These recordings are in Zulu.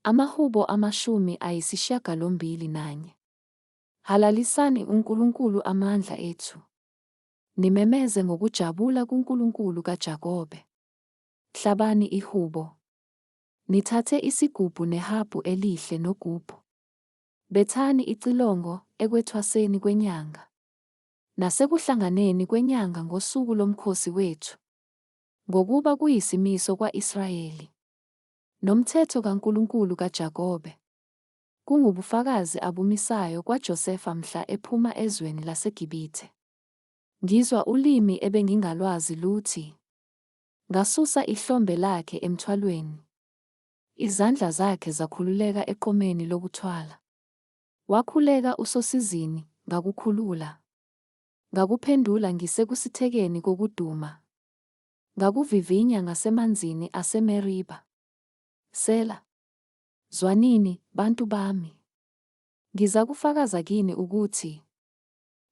Amahubo amashumi ayisishiyagalombili nanye. Halalisani uNkulunkulu amandla ethu, nimemeze ngokujabula kuNkulunkulu kaJakobe. Hlabani ihubo, nithathe isigubhu nehabhu elihle nogubhu. Bethani icilongo ekwethwaseni kwenyanga, nasekuhlanganeni kwenyanga ngosuku lomkhosi wethu, ngokuba kuyisimiso kwa-Israyeli. Nomthetho kaNkulunkulu kaJakobe. Kungubufakazi abumisayo kwaJosefa mhla ephuma ezweni laseGibithe. Ngizwa ulimi ebengingalwazi luthi, Ngasusa ihlombe lakhe emthwalweni. Izandla zakhe zakhululeka eqomeni lokuthwala. Wakhuleka usosizini, ngakukhulula. Ngakuphendula ngisekusithekeni kokuduma. Ngakuvivinya ngasemanzini aseMeriba. Sela. Zwanini, bantu bami. Ngizakufakaza kini ukuthi,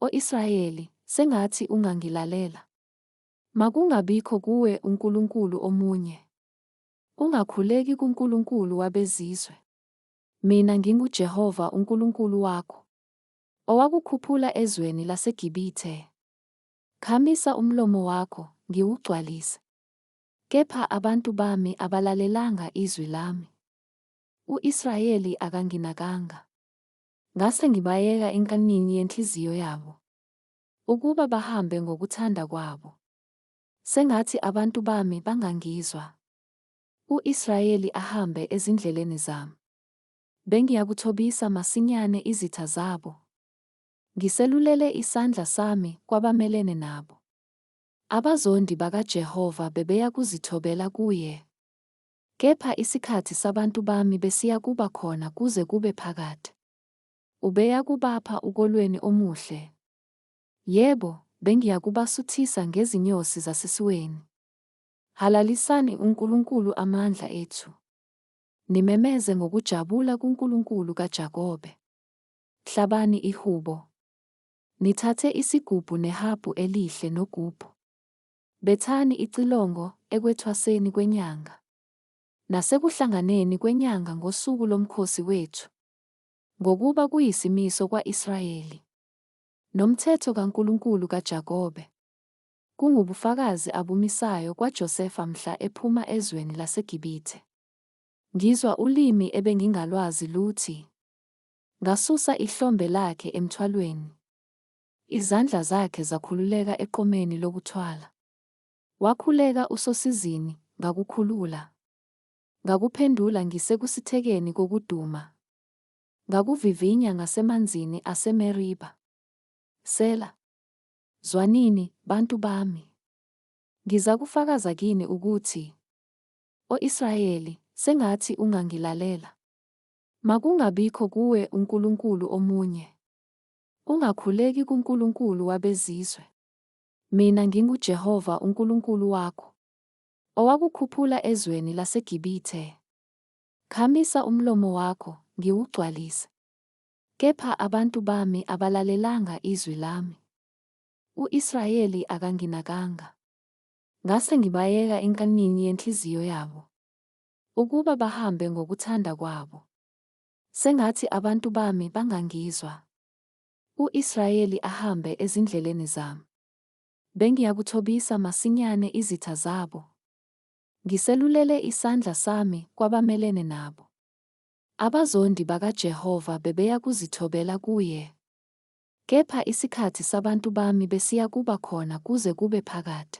O Israyeli, sengathi ungangilalela. Makungabikho kuwe unkulunkulu omunye. Ungakhuleki kunkulunkulu wabezizwe. Mina nginguJehova uNkulunkulu wakho, owakukhuphula ezweni laseGibithe, Khamisa umlomo wakho, ngiwugcwalise. Kepha abantu bami abalalelanga izwi lami, u-Israyeli akanginakanga. Ngase ngibayeka enkanini yenhliziyo yabo, ukuba bahambe ngokuthanda kwabo. Sengathi abantu bami bangangizwa, u-Israyeli ahambe ezindleleni zami. Bengiyakuthobisa masinyane izitha zabo, Ngiselulele isandla sami kwabamelene nabo. Abazondi bakaJehova bebeya kuzithobela kuye. Kepha isikhathi sabantu bami besiya kuba khona kuze kube phakade. Ubeya kubapha ukolweni omuhle. Yebo, bengiya kubasuthisa ngezinyosi zasesiweni. Halalisani uNkulunkulu amandla ethu. Nimemeze ngokujabula kuNkulunkulu kaJakobe. Hlabani ihubo. Nithathe isigubhu nehabhu elihle nogubhu. Bethani icilongo ekwethwaseni kwenyanga, nasekuhlanganeni kwenyanga ngosuku lomkhosi wethu, ngokuba kuyisimiso kwa-Israyeli, nomthetho kaNkulunkulu kaJakobe, kungubufakazi abumisayo kwaJosefa mhla ephuma ezweni laseGibithe. Ngizwa ulimi ebengingalwazi luthi, Ngasusa ihlombe lakhe emthwalweni. Izandla zakhe zakhululeka eqomeni lokuthwala. Wakhuleka usosizini, ngakukhulula. Ngakuphendula ngise kusithekeni kokuduma. Ngakuvivinya ngasemanzini aseMeriba. Sela. Zwanini, bantu bami. Ngizakufakaza kini ukuthi, O Israyeli, sengathi ungangilalela. Makungabikho kuwe unkulunkulu omunye. Ungakhuleki kunkulunkulu wabezizwe. Mina nginguJehova uNkulunkulu wakho, owakukhuphula ezweni laseGibithe. Khamisa umlomo wakho, ngiwugcwalise. Kepha abantu bami abalalelanga izwi lami, u-Israyeli akanginakanga. Ngase ngibayeka enkanini yenhliziyo yabo, Ukuba bahambe ngokuthanda kwabo. Sengathi abantu bami bangangizwa. U-Israyeli ahambe ezindleleni zami. Bengiyakuthobisa masinyane izitha zabo. Ngiselulele isandla sami kwabamelene nabo. Abazondi bakaJehova bebeya kuzithobela kuye. Kepha isikhathi sabantu bami besiya kuba khona kuze kube phakade.